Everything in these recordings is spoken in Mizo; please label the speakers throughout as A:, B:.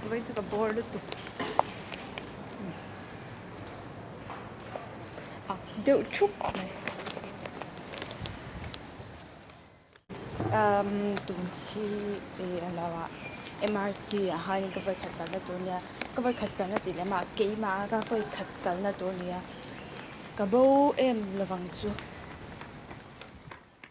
A: Vei chu ka bawr lutuk. A deuh thup mai. Um, tum hi e alawa MRT a hai ka vai khat kalna tur nia. Ka vai khat kalna ti lema keima ka vai khat kalna tur nia. Ka bo em lovang chu.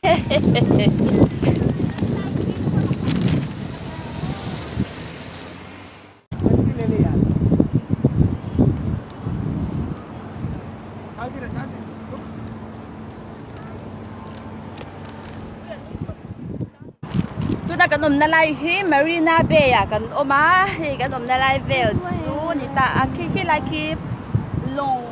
A: Tuna kan awmna lai hi Marina Bay ah kan awm a, hei kan awmna lai vel chu ni ta a khi khilai khi lawng--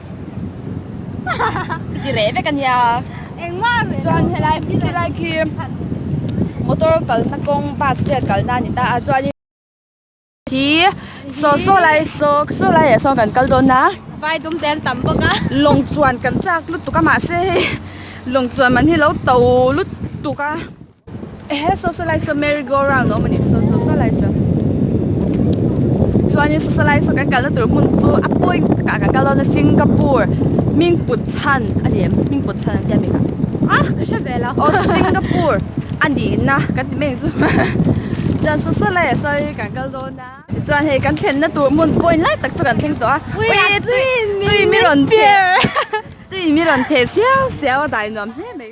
A: Ti reh vek a nia. Engmah a reh lo. Chuan helai helai khi motor kalna kawng bus vel kalna a ni ta a chuanin hi saw saw lai saw saw lai ah sawn kan kal dawn a. Vai dum te an tam bawk a. Lawng chuan kan chak lut tuk a mahse hei lawng chuan man hi a lo to lut tuk a. He socialite chu merry go round awm anih saw saw saw lai chu chuanin socialite saw kan kalna tur hmun chu a point takah kan kal dawn a Singapore mingput chhan a ni em mingput chhan an tia mai ka a ka hre ve lo o Singapore a ni na kan ti mai chu chuan saw saw lai saw lai kan kal dawn a chuan hei kan thlenna tur hmun point lai tak chu kan thleng tawh a ui tuin mi rawn tui mi rawn theh siau siau a dai nuam hle mai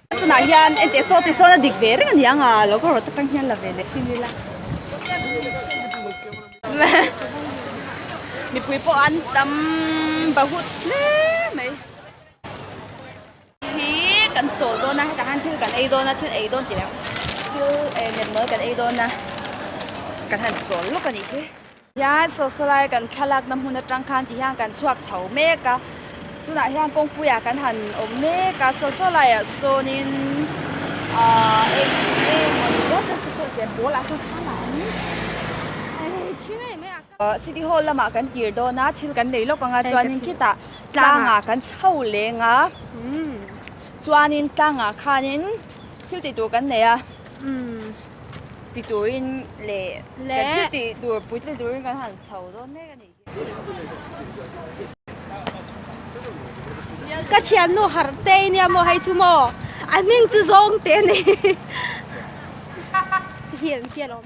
A: Tunah hian ente saw te sawn a dik ve reng a ni ang a, lo ka rawh tak tang hian la ve leh si ni la. Mipui pawh an tam bahut hle mai. Hi kan chawl dawn a, hetah hian thil kan ei dawn a, thil ei dawn tih leh thil nemnawl kan ei dawn a, kan han chawl lawk a nih hi. Tichuan, Sawsalai kan thla lakna hmun atang khan ti hian kan chhuak chho mek a, tunah hian kawngpuiah kan han awm mek a, Sawsalaiah sawnin aaa eng eng maw ni zawk se sawi tel pawl ah sawn thlak a ni a, thi ngei mai ah ka City Hall lamah kan tir dawn a, thil kan nei lawk ang a, chuanin khitah tlangah kan chho leng a, chuanin tlangah khanin thil tih tur kan nei a. ti turin leh kan thil ti tur puitling turin kan han chho dawn mek a nih hian. Ka thiannu harte i nia maw hei chu maw? A hming chu zawng te nei ti hian ti alawm.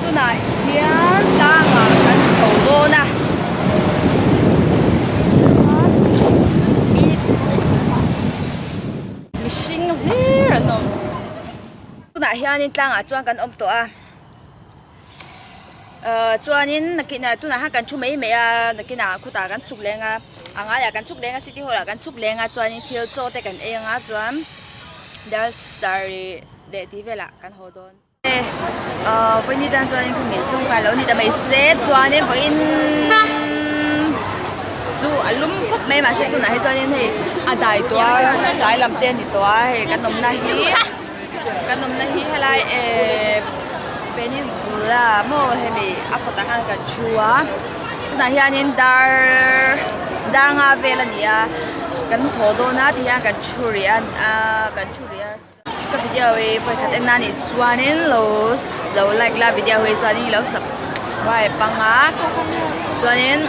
A: Tunah hian tlanga kan chho dawn a. Mihring hlir an awm. Tunah hianin tlangah chuan kan awm tawh a. Chuanin nakina tunah hian kan thu mai mai a. Nakina khutah kan chhuk leng a, a ngaiah kan chhuk leng a, City Hall-ah kan chhuk leng a. Chuanin thil chaw te kan eng a chuan Dalsari leh tih velah kan haw dawn. Pawini tan chuan in khawmin sum kai lo ni ta mai se chuan in pawin chu a lum khawp mai ma se tunah hi chuan in hei a dai tua kai lam te ni tua hei kan awmna hi kan awmna hi helai e peninsula mo hemi a kawt ah khan kan thu a tunah hian in dar dar nga vel a ni a kan haw dawn a ti hian kan thu riah a kan thu riah a. Ka video hi vawikhat en nan nih chuanin lo lo like la video hi chuan i lo subscribe bang a chuanin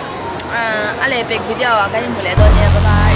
A: a leh vek video ah kan inhmu leh dawn nia bye bye